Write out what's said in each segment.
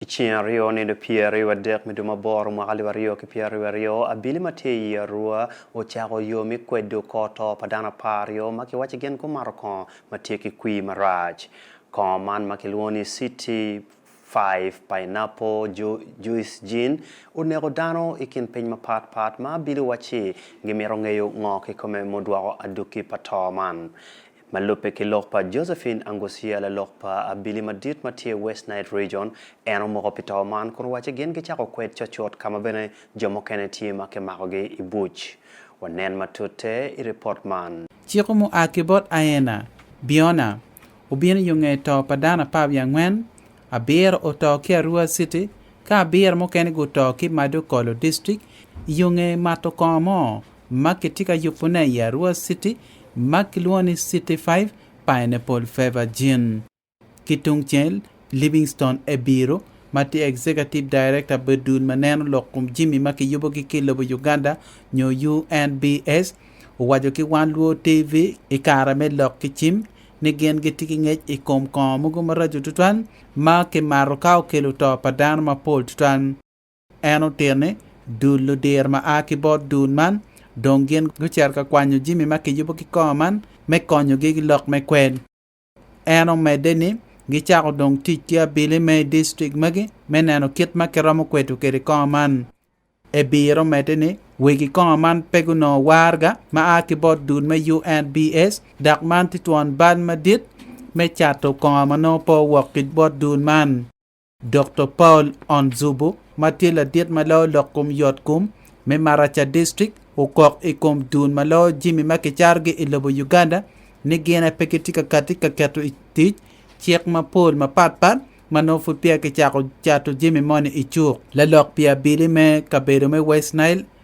I ceng aryo nino pyeraryo adek me dwe ma aboro mwaka alip aryo ki pyeraryo aryo, abili ma tye i Arua ocako yo me kwedo kor to pa dano apar aryo ma kiwaci gin gumato kongo ma tye ki kwir marac. Kongo man ma kilwongo ni City Five Pineapple Juice Gin oneko dano i kin piny mapat pat ma abili wacci gimito ngeyo ngo kikome mudwoko aduki pa to man. Ma lubbe ki lok pa Josephine Angucia, lalok pa abili madit ma tye i West Nile Region, en omoko pi to man kun owacci gin gicako kwed cocut ka ma bene jo mukene tye ma kimakogi i buc. Wanen matute i ripot man. Ciko mua ki bot Aena, Biona, obino yo nge to pa dano apar wiye angwen, abiro oto ki Arua City ka abiro mukene guto ki Madokolo District i yo nge mato kongo mo ma kitye ka yubone i Arua City ma kilwongo ni City Five Pineapple Fever Gin. Ki tungcel, Livingstone Ebiru, ma tye Executive Director pi dul ma neno lok kom jami ma kiyubogi ki lobo Uganda nyo UNBS, owaco ki Wan Luo TV i kare me lok ki cim ni gin gitye ki ngec i kom kongo mogo maraco tutwal ma kimato ka okelo to pa dano mapol tutwal. En otito ni, Dul ludir ma a ki bot dul man dong gin gucito ka kwanyo jami ma kiyubo ki kor man me konyogi ki lok me kwel. En omedde ni, Gicako dong tic ki abili me i distrik magi me neno kit ma kiromo kweto kwede kor man. Ebir omedde ni, Wegi kor man pe gunongo warga ma a ki bot dul me UNBS, dok man tye twon bal madit me cato kor ma nongo pe owok ki bot dul man. Doktor Paul Onzubu ma tye ladit ma loyo lok kom yotkom me Maracha District okok i kom dul ma loyo jami ma kicarogi i lobo Uganda ni gin aye pe gitye ka kati ka keto i tic cik mapol mapatpat ma nongo pud peya kicako cato jami moni i cuk. Lalok pi abili me kabedo me West Nile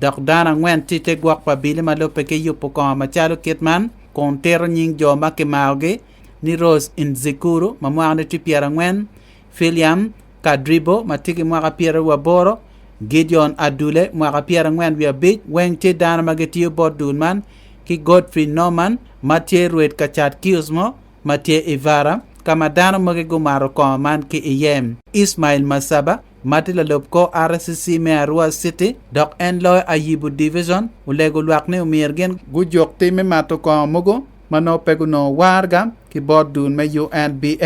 Dok dano angwen tye i te gwok pa abili ma lubbe ki yubo kongo macalo kit man, kun tito nying jo ma kimarogi ni Rose Indzikuru, ma mwakane tye pyerangwen, Philiam Kadribo, ma tye ki mwaka pyeraryo wa boro, Gideon Adule, mwaka pyerangwen wiye abic, weng tye dano ma gitiyo bot dul man, ki Godfrey Norman, ma tye rwed ka cat kiosk mo ma tye i Vara, ka ma dano mogi gumato kongo man ki iye. Ismail Masaba, ma tye lalub kor RCC me Arua City dok en loyo Ayibu Division, olego lwak ni omyero gin gujuk tim me mato kongo mogo ma nongo pe gunongo warga ki bot dul me UNBA.